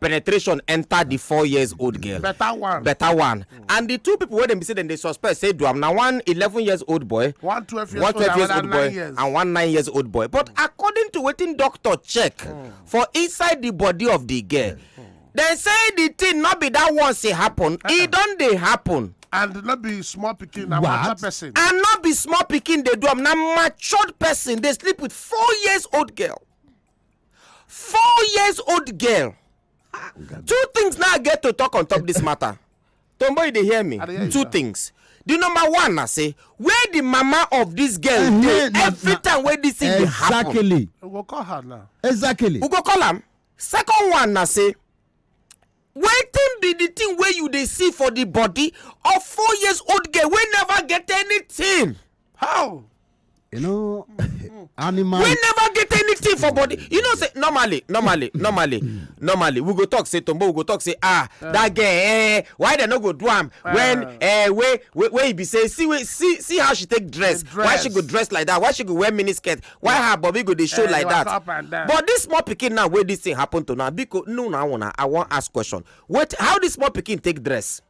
penetration enter the four years old girl better one better one mm. and the two people wey dem be say dem dey suspect say do am na one eleven years old boy one twelve years, one 12 years old boy years. and one nine years old boy but mm. according to wetin doctor check mm. for inside the body of the girl mm. dem say the thing no be that once e happen uh-uh. e don dey happen and not be small picking na mature person and not be small picking. They do am na matured person They sleep with four years old girl four years old girl two things now get to talk on top this matter tombo you dey hear me two things the number one na say where the mama of this girl eh, dey eh, every time wey this thing dey happen exactly we go call her now exactly we go call am second one na say wetin be the thing wey you dey see for the body of four years old girl wey never get anything how you know animal wey never get anything for body you know say normally normally normally normally we go talk say tombo we go talk say ah that girl eh why dem no go do am when eh wey wey wey e be say see wey see see how she take dress why she go dress like that why she go wear mini skirt why her body go dey show eh, like that but this small pikin now wey this thing happen to now biko no na una i wan ask question wait how this small pikin take dress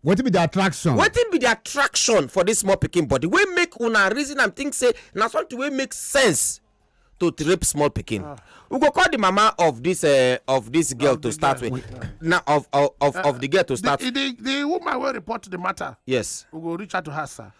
wetin be the attraction wetin be the attraction for this small pikin body wey make una reason am think say na something wey make sense to rape small pikin ah. we go call the mama of this uh, of this girl to start with na of of of the girl to start the the woman wey report the matter yes we go reach out to her sir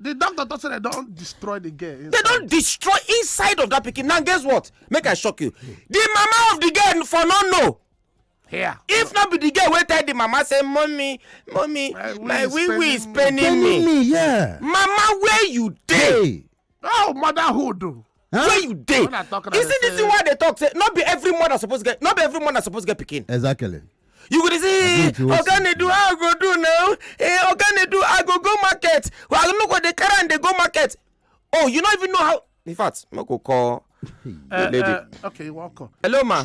the doctor talk say they don destroy the girl inside. they don destroy inside of that pikin now guess what make i shock you the mama of the girl for no know here if not be the girl wey tell the mama say mummy mummy my wee wee is paining me yeah mama where you dey oh motherhood Huh? where you dey you see this thing wey i dey talk say no be every mother suppose get no be every mother suppose get pikin. exactly. you go dey say oga na do how i go do now eh oga na do i go go market well i no go dey carry am dey go market oh you no even know how in fact make we call the eh, lady. Eh, okay welcome. hello ma.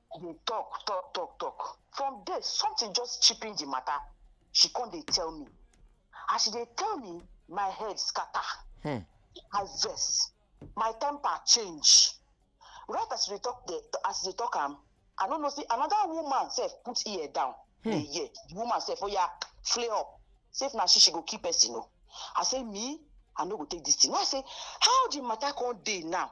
dey talk talk talk talk from there something just chipping the matter she come dey tell me as she dey tell me my head scatter hmm. i vex my temper change right as she dey talk the as she dey talk am i no know say another woman sef put ear down hmm. dey hear the woman sef oya oh yeah, flay up say if na she she go kill person o i say me i no go take this thing i say how the matter come dey now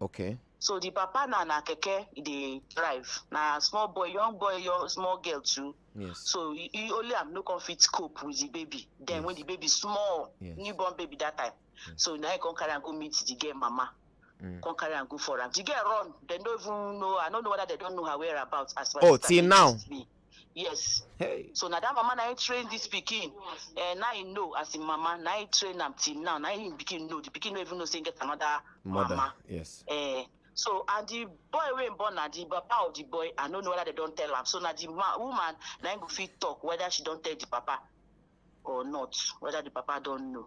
Okay. So the papa na na keke e dey drive. Na small boy, young boy, young small girl too. Yes. So he, he only am no come fit cope with the baby. Then yes. when the baby small, yes. newborn baby that time. Yes. So now he come carry and go meet the girl mama. Mm. Come carry and go for am. The girl run. They don't even know. I don't know whether they don't know her whereabouts. As oh, till now. Me. yes hey so na that mama na him train this pikin uh, na him know as him mama na him train am till now na him pikin know the pikin no even know say him get another mother mama. yes Uh, so and the boy wey him born na the papa of the boy i no know whether they don tell am so na the ma woman na him go fit talk whether she don tell the papa or not whether the papa don know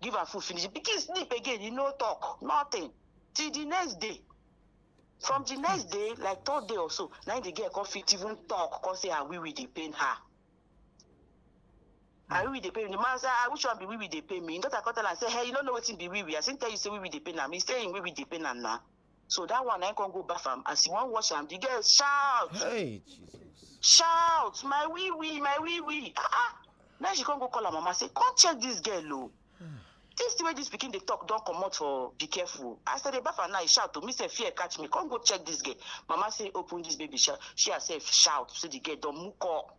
give am food finish the pikin sleep again he no talk nothing till the next day from the next day like third day or so na him the girl come fit even talk come say her wee wee dey pain her her wee wee dey pain me the man say ah which one be wee wee dey pain me him daughter come tell am say hey you no know wetin be wee wee as him tell you say wee wee dey pain am he say him wee wee dey pain am na So that one I can go bath am. As you want wash am, the girl shout. Hey Jesus. Shout, my wee wee, my wee wee. Ah ah. Now she can't go call her mama say, come check this girl oh. This the way this pikin dey talk don comot for be careful. As I dey baff her now, he shout to me say fear catch me. Come go check this girl. Mama say open this baby shout. She herself shout so the girl don muko.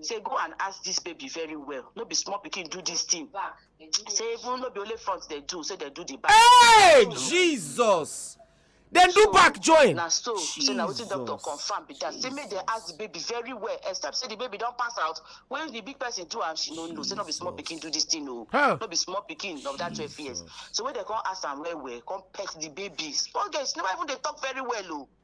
say go and ask this baby very well no be small pikin do this thing say even no be only front they do say they do the back. hey jesus dem do back join. na so say na wetin doctor confam be that say make dem ask the baby very well except say the baby don pass out when the big person do am she no know say no be small pikin do this thing o oh. no be small pikin of that twelve years so when dem come ask am well well come pet the baby small girl she never even dey talk very well o. Oh.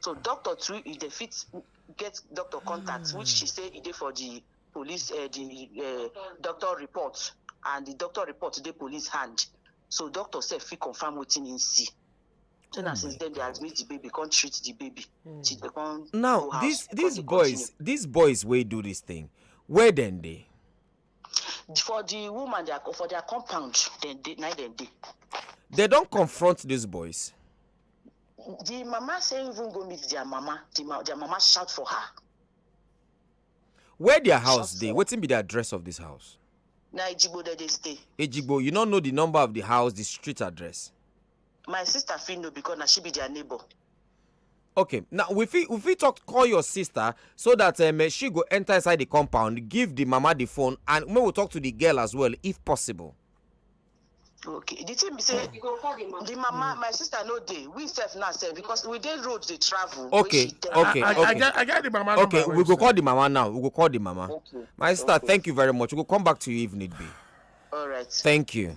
so doctor too if dem fit get doctor contact which she say e dey for di police eh, di eh, doctor report and di doctor report dey police hand so doctor sef fit confam wetin im see so na since den dey admit di baby come treat di baby till dem come now go house dis come dis dey continue. boys dis boys wey do dis thing where dem dey for the woman their for their compound dem dey na dem dey. they don confront these boys. the mama say even go meet their mama the ma their mama shout for her. where their house dey wetin be the address of this house. na ejigbo dem dey stay. ejigbo you no know the number of the house the street address. my sister fit know because na she be their neighbor. okay now we fit we fit talk call your sister so that um, eh, she go enter inside the compound give the mama the phone and we will talk to the girl as well if possible okay the thing be say the mama my sister no dey we sef now sef because we dey road dey travel okay okay I, okay I, I, get, the mama okay we go call the mama now we go call the mama okay. my sister okay. thank you very much we go come back to you if need be all right thank you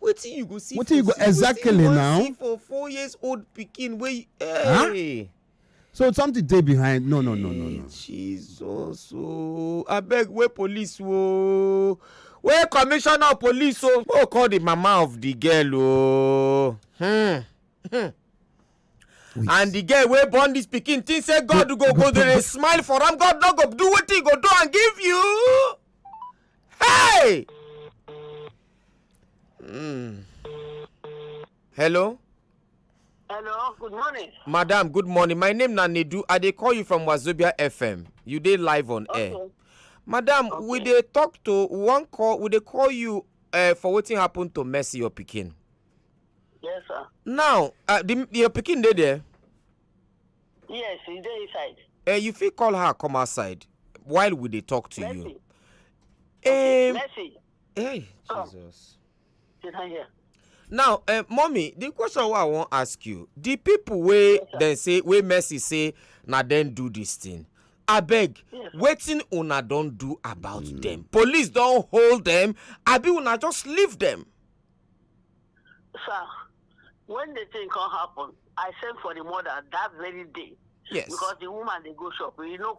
wetin you go see wetin you go exactly now wetin you wan see for four years old pikin wey hey. so something dey behind no no no no no. jesus ooo oh. abeg wey police ooo oh. wey commissioner of police ooo oh. oh call the mama of the girl ooo. Hmm. Hmm. Wait. and the girl wey born this pikin think say god go go dey smile for am god no go do wetin he go do and give you. hey. Mm. Hello? Hello, good morning. Madam, good morning. My name na Nedu. I dey call you from Wazobia FM. You dey live on okay. air. Madam, okay. we dey talk to one call, we dey call you uh, for wetin happen to Mercy your pikin. Yes, sir. Now, uh, the, your pikin dey there? Yes, he dey inside. Uh, you fit call her come outside while we dey talk to Mercy. you. Um, Mercy. Hey, so, Jesus. Here. Now, uh, mommy, the question I want to ask you: the people wey yes, dem say wey Mercy say na dem do this thing. abeg yes. wetin una don do about mm. dem police don hold dem abi una just leave dem. sir when the thing come happen i send for the mother that very day. yes because the woman dey go shop you know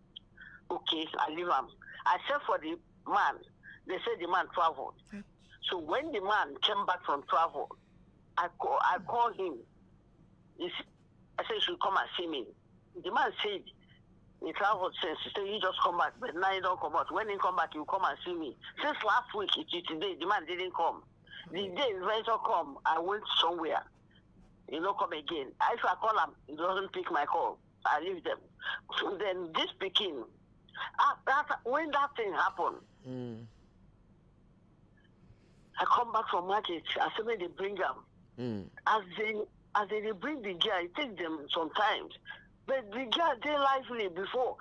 okay i leave am i sell for the man they say the man travel so when the man came back from travel i call i call him he s- i say you should come and see me the man said he travel since he say he just come back but now he don comot when he come back he will come and see me since last week till today the man didn't come the day venture come i went somewhere he no come again i if i call am he doesn't pick my call I leave them. So then this pikin, after, when that thing happened, mm. I come back from market. I say make they bring am. Mm. As they as they dey bring the girl, it take them sometimes. But the girl dey lively before.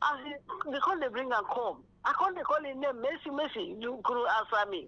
As they, they come dey bring am come. I come dey call him name Mercy Mercy. You go answer me.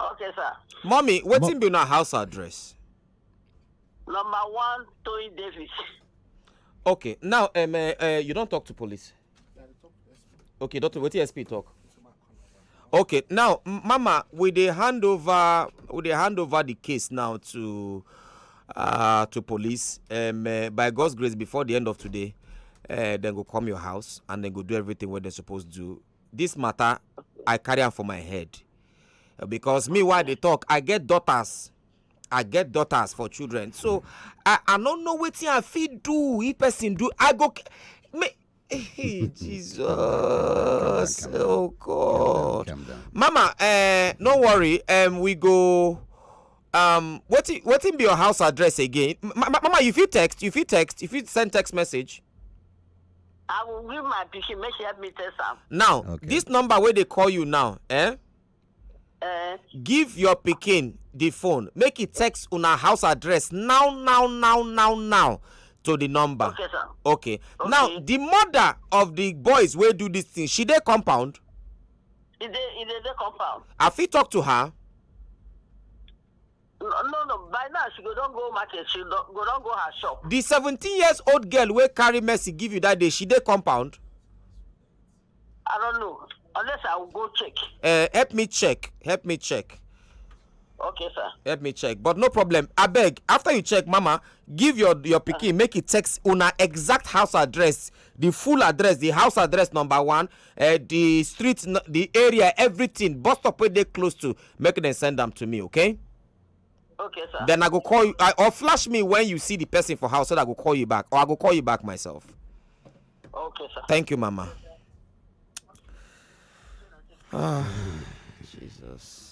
okay sir mummy wetin be una house address number one toyin davis okay now um, uh, uh, you don talk to police okay doctor wetin sp talk okay now mama we dey hand over we dey hand over the case now to uh, to police um, uh, by god's grace before the end of today uh, dem go come your house and dem go do everything wey dem suppose do this matter i carry am for my head because me why they talk i get daughters i get daughters for children so i i no know wetin i fit do if person do i go me hey, jesus calm down, oh god calm down. mama uh, no worry um, we go um wetin wetin be your house address again mama you fit text you fit text you fit send text message I will give my pikin make she help me test am. now Okay. this number wey dey call you now eh Eh, give your pikin the phone make e text una house address now now now now now to the number okay, sir. okay now Okay. the mother of the boys wey do this thing she dey compound Is there, is there the compound? i fit talk to her No, no, no. By now she go don go market. She don, go don go her shop. the seventeen years old girl wey carry mercy give you that day she dey compound I don't know. Unless I will go check. uh, help me check help me check Okay, sir. help me check but no problem abeg after you check mama give your your pikin make e text una exact house address the full address the house address number one uh, the street n- the area everything bus stop wey dey close to make dem send am to me okay Okay, sir. then i go call you I, or flash me when you see the person for house so that i go call you back or i go call you back myself Okay, sir. thank you mama ah jesus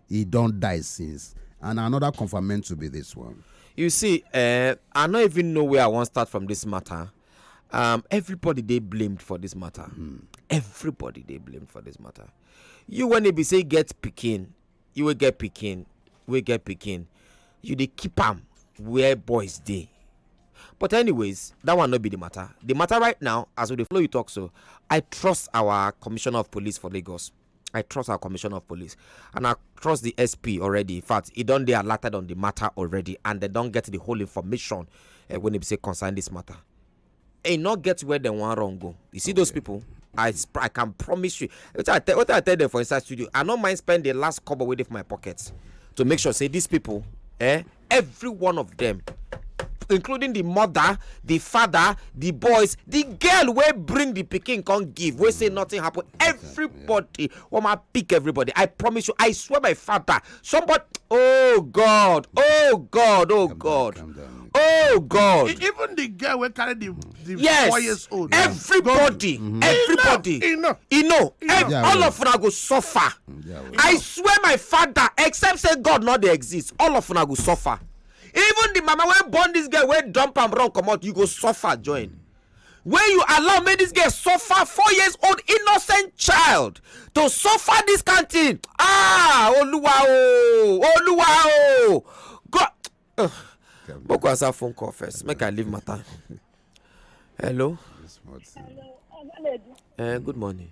e don die since and another confirmento be this one. you see uh, i no even know where i wan start from this matter um, everybody dey blamed for this matter mm. everybody dey blamed for this matter you when e be say get pikin you wey get pikin wey get pikin you dey keep am where boys dey but anyways that one no be the matter the matter right now as we dey follow you talk so i trust our commissioner of police for lagos i trust our commissioner of police and i trust the sp already in fact e don dey alerted on the matter already and dem don get the whole information uh, when e be say concern this matter e no get where dem wan run go you see those people I, sp- I can promise you wetin i tell wetin i tell them for inside studio i no mind spend the last kobo wey dey for my pocket to make sure say these people eh every one of them including the mother the father the boys the girl wey bring the pikin come give wey say nothing happen everybody wan ma pick everybody i promise you i swear my father somebody oh god oh god oh god oh god E- Even the girl wey carry the, the yes four years old. everybody everybody Enough, enough. e know ev- Yeah, all well. of una go suffer i swear my father except say god no dey exist all of una go suffer even the mama wey born this girl wey dump am run comot you go suffer join when you allow make this girl suffer four years old innocent child to suffer this kind thing ah oluwa o oluwa o god Ugh. boko answer phone call first make i leave matter hello This month. Hello, Ovaledi. uh, good morning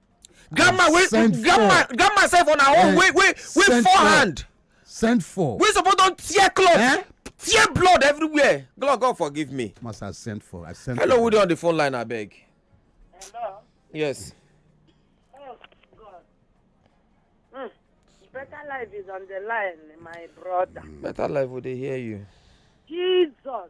grandma wey grandma grandma sef on her own eh, wey wey wey four hand send for wey suppose don tear cloth eh? tear blood everywhere god god forgive me must i send for i send hello who dey on the phone line abeg hello yes oh god hmm. better life is on the line my brother better life we dey hear you jesus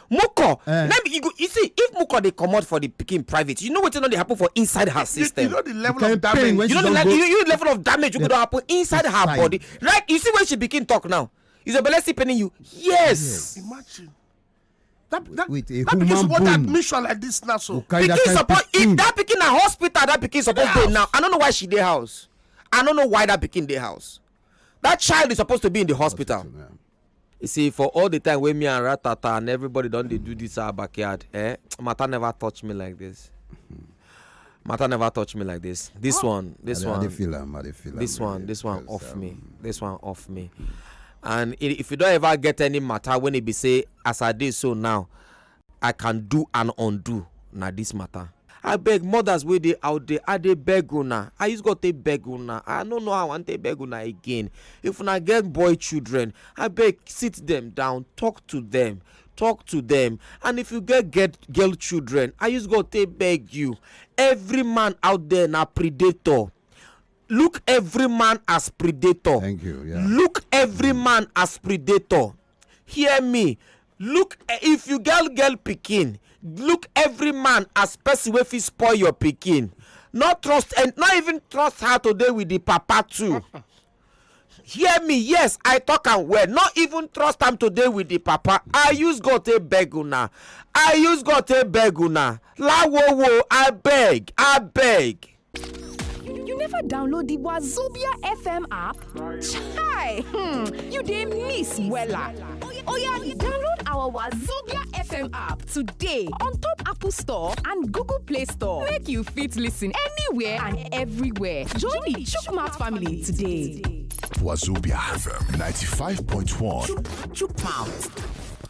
muko eh. let me you, go, you see if muko dey comot for the pikin private you know wetin don dey happen for inside her system you, know the level of damage you know the, you, you level of damage wey go don happen inside her body like you see when she begin talk now is your belle still paining you yes imagine that that with a that pikin support admission like this now so pikin support if that pikin na hospital that pikin support dey now i no know why she dey house i no know why that pikin dey house that child is supposed to be in the hospital. hospital yeah. You see, for all the time wey me and Ratata and everybody don dey do this our backyard, eh, matter never touch me like this. Matter never touch me like this. This one, this I, one, I feel am, I feel am, this one, this one off um, me, this one off me. And if you don't ever get any matter when it be say as I did so now, I can do and undo na this matter. Abeg mothers wey dey out there I dey beg una, I use God take beg una, I no know how I wan take beg una again, if una get boy children abeg sit them down talk to them, talk to them and if you get get girl children I use God take beg you every man out there na predator look every man as predator Thank you, yeah. look every man as predator. hear me look if you girl girl pikin look every man as person wey fit spoil your pikin no trust and not even trust her to dey with the papa too hear me yes i talk am well no even trust am to dey with the papa i use god take beg una i use god take beg una lawowo abeg abeg You never download the Wazobia FM app? Chai! Hmm, you dey miss wella. Oya, download our Wazobia FM app today on top Apple Store and Google Play Store. Make you fit listen anywhere and everywhere. Join the Chukmat family today. Wazobia FM 95.1. Chukmat.